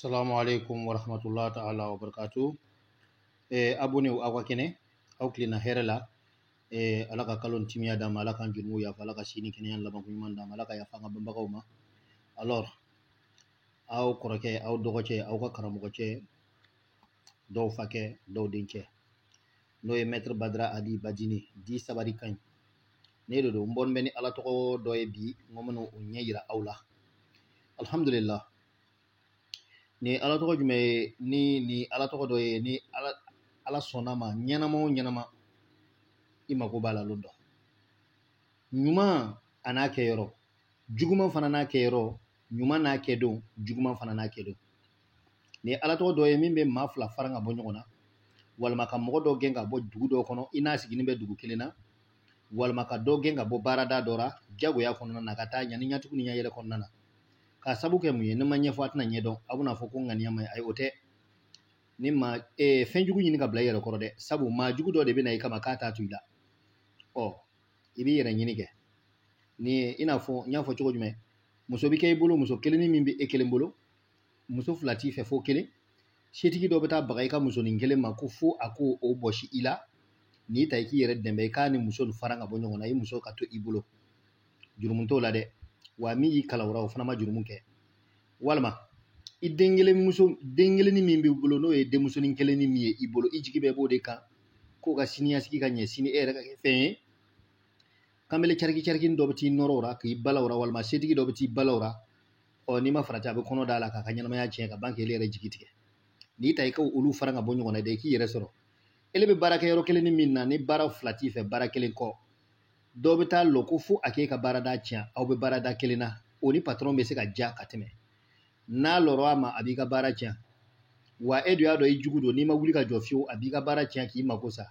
Assalamu alaikum wa rahmatullahi ta'ala wa barakatuh. Eh, abonew aw ka kɛnɛ, aw kilenna hɛrɛ la. Eh, ala ka kalo in timiya d'an ma, ala k'an jurumu yafa, ala ka si ni kɛnɛya laban ko ɲuman d'an ma, ala ka yafa an ka banbagaw ma. Alors, aw kɔrɔkɛ, aw dɔgɔcɛ, aw ka karamɔgɔcɛ, dɔw fakɛ dɔw dencɛ n'o ye mɛtiri badara ali bajini dit sabari ka ɲi ne de don n bɔn bɛ ni ala tɔgɔ dɔ ye bi n ko n bɛna o ɲɛ yira aw la alhamdulillah nin ala tɔgɔ jumɛn ye nin nin ala tɔgɔ dɔ ye ni ala sɔnna a ma ɲɛnama o ɲɛnama i mako b'a la lon dɔ ɲuman a n'a kɛ yɔrɔ juguman fana n'a kɛ yɔrɔ ɲuman n'a kɛ don juguman fana n'a kɛ don nin ye ala tɔgɔ dɔ ye min bɛ maa fila fara ka bɔ ɲɔgɔn na walima ka mɔgɔ dɔ gɛn ka bɔ dugu dɔ kɔnɔ i n'a sigilen bɛ dugu kelen na walima ka dɔ gɛn ka bɔ baarada dɔ la jagoya kɔnɔna na ka taa ɲani ɲatugu ni ɲɛyɛlɛ kɔnɔna na k'a sabu kɛ mun ye ni n m'a ɲɛfɔ a tɛna ɲɛdɔn a bɛna fɔ ko ŋaniya ma ayi o tɛ n'i ma ee, fɛn jugu ɲini ka bila i yɛrɛ kɔrɔ dɛ sabu maa jugu dɔ de bɛ na i kama k'a t'a to i la ɔ i b'i yɛrɛ ɲini kɛ ni ye i n'a fɔ n y'a fɔ cogo jumɛn muso bɛ kɛ i bolo muso kelennin min bɛ e kelen bolo muso fila t'i fɛ fo kelen setigi dɔ bɛ taa baga i ka musonin kelen ma ko fo a k'o bɔsi i la nin ta i k'i yɛrɛ dɛmɛ i k'a ni muso in fara ka bɔ ɲɔgɔn na i muso ka to i bolo jurumu t'o la dɛ wa min y'i kalan o ra o fana ma jurumu kɛ walima i woloden kelennin min b'i bolo n'o ye denmusonin kelennin min ye i bolo i jigi bɛɛ b'o de kan k'o ka siniɲɛsigi ka ɲɛ sini e yɛrɛ ka kɛ fɛn ye kanbele cariki carikini dɔ bɛ t'i nɔrɔ o la k'i bala o la walima setigi dɔ bɛ t'i bala o la ɔ n'i ma farati a bɛ kɔnɔ d'a la k'a ka ɲɛnamaya tiɲɛ ka ban k'ele yɛrɛ jigi tigɛ nin ta i ka olu fara ka bɔ ɲɔgɔn na dɛ i k'i yɛrɛ sɔrɔ ele bɛ baara kɛ yɔrɔ kelennin min na nin baara fila t'i fɛ baara kelen kɔ dɔ bɛ taa lɔ ko fo a k'e ka baarada tiɲɛ aw bɛ baarada kelen na o ni patɔrɔn bɛ se ka diya ka tɛmɛ n'a lɔra a ma a b'i ka baara tiɲɛ wa e dun y'a dɔn i jugu don n'i ma wuli ka jɔ fiyewu a b'i ka baara tiɲɛ k'i mako sa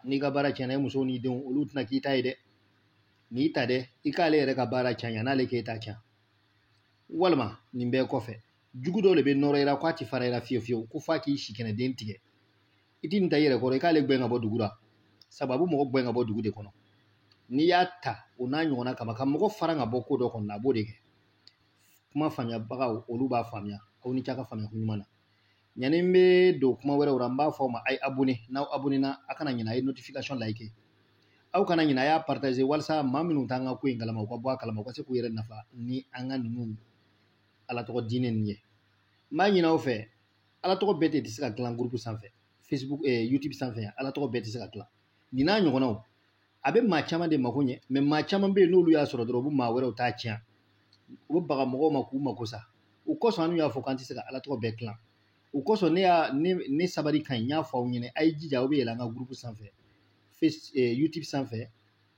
n'i ka baara tiɲɛna e musow n'i denw olu tɛna k'i ta ye dɛ nin ta dɛ i k'ale yɛrɛ ka baara tiɲɛ n'ale k'e ta tiɲɛ walima nin bɛɛ kɔfɛ jugu dɔ de bɛ nɔrɔ i la k'a tɛ fara i la fiyewu fiyewu ko f'a k'i si kɛnɛ den tigɛ i ti nin ta i yɛrɛ kɔrɔ i k'ale gwɛn ka bɔ dugu la sabu a bɛ mɔgɔ gwɛn ka bɔ dugu de kɔnɔ n'i y'a ta o n'a ɲɔgɔnna kama ka mɔgɔ fara ka bɔ ko dɔ kɔnɔ a b'o de kɛ kuma faamuyabagaw olu b'a faamuya aw ni c'a ka faamuya ko ɲuman na yanni n bɛ don kuma wɛrɛw la n b'a fɔ aw ma a ye abonné n'aw abonné na a kana ɲinɛ a ye notification like aw kana ɲinɛ a y'a partager walasa maa minnu t'an ka ko in kalama u ka bɔ a kalama u ka se k'u yɛrɛ nafa ni an ka ninnu ala tɔgɔ diinɛ ninnu ye n b'a ɲini aw fɛ ala tɔgɔ bɛɛ tɛ se ka dilan gurupu sanfɛ facebook eh, youtube sanfɛ yan ala tɔgɔ bɛɛ tɛ se ka dilan nin n'a ɲɔgɔnnaw a bɛ maa caman de mako ɲɛ mɛ maa caman bɛ yen n'olu y'a sɔrɔ dɔrɔn u bɛ maa wɛrɛw ta tiɲɛ u bɛ baga mɔgɔw ma k'u mako sa o kosɔn an y'a fɔ k'an tɛ se ka ala tɔgɔ bɛɛ dilan o kosɔn ne y'a ne ne sabali ka ɲi n y'a fɔ aw ɲɛna a ye jija aw bɛ yɛlɛ an ka gurupu sanfɛ face eh, youtube sanfɛ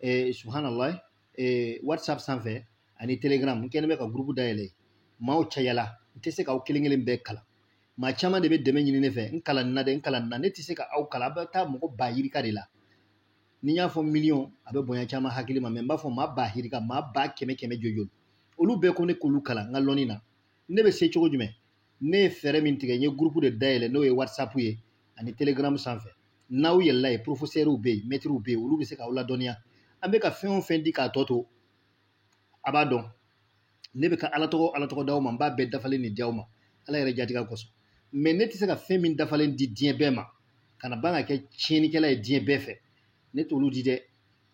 eh, subhanallah ee whatsapp sanfɛ ani telegram n kɛlen bɛ ka gurupu dayɛlɛ maaw cayala n tɛ se k'aw kelen kelen bɛɛ kalan maa caman de bɛ dɛmɛ ɲini ne fɛ n kalan na dɛ n kalan na ne tɛ se ka aw kalan a bɛ taa mɔgɔ ba yirika de la ni n y'a fɔ miliyɔn a bɛ bonya caman hakili ma mɛ n b'a fɔ maa ba hirika maa ba kɛmɛ kɛmɛ jojoli olu bɛɛ ko ne k'olu kalan n ka lɔnni na ne bɛ se cogo jumɛn ne ye fɛɛrɛ min tigɛ n ye gurupu de dayɛlɛ n'o ye whatsapp ye ani telegram sanfɛ n'aw yɛlɛla yen porofesɛriw bɛ yen mɛtiriw bɛ yen olu bɛ se k'aw ladɔnniya an bɛ ka fɛn o fɛn di k'a tɔ to a b'a dɔn ne bɛ ka ala tɔgɔ ala tɔgɔ d'aw ma n b'a bɛɛ dafalen de di aw ma ala yɛrɛ jatigɛ kosɔn mɛ ne tɛ se ka fɛn min dafalen di diɲɛ bɛɛ ma ka na ban ka kɛ tiɲɛnikɛla ye diɲɛ bɛɛ fɛ ne t'olu di dɛ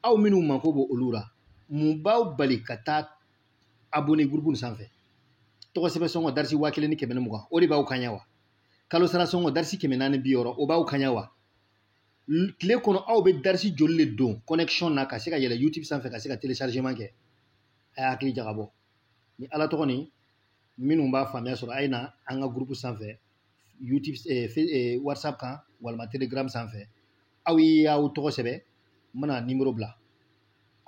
aw minnu mako b'olu la mun b'aw bali ka taa abonné groupe nin sanfɛ tɔgɔ sɛbɛn sɔngɔ darisi waa kelen ni kɛmɛ ni mugan o de b'aw kaɲa wa kalo sara sɔngɔ darisi kɛmɛ naani bi wɔɔrɔ o b'aw kaɲa wa tile kɔnɔ aw bɛ darisi joli le don connexion na ka se ka yɛlɛ youtube sanfɛ ka se ka téléchargement kɛ a y'a hakili jagabɔ ni ala tɔgɔ nin minnu b'a faamuya sɔrɔ a ye na an ka groupe sanfɛ youtube eh, eh, whatsapp kan walima telegram sanfɛ aw ye aw tɔgɔ sɛbɛn n bɛna nimoro bila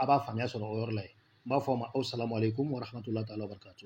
a b'a faamuya sɔrɔ o yɔrɔ la yen n b'a fɔ a ma aw salamu aleykum warahmatulahi taala wabarakatu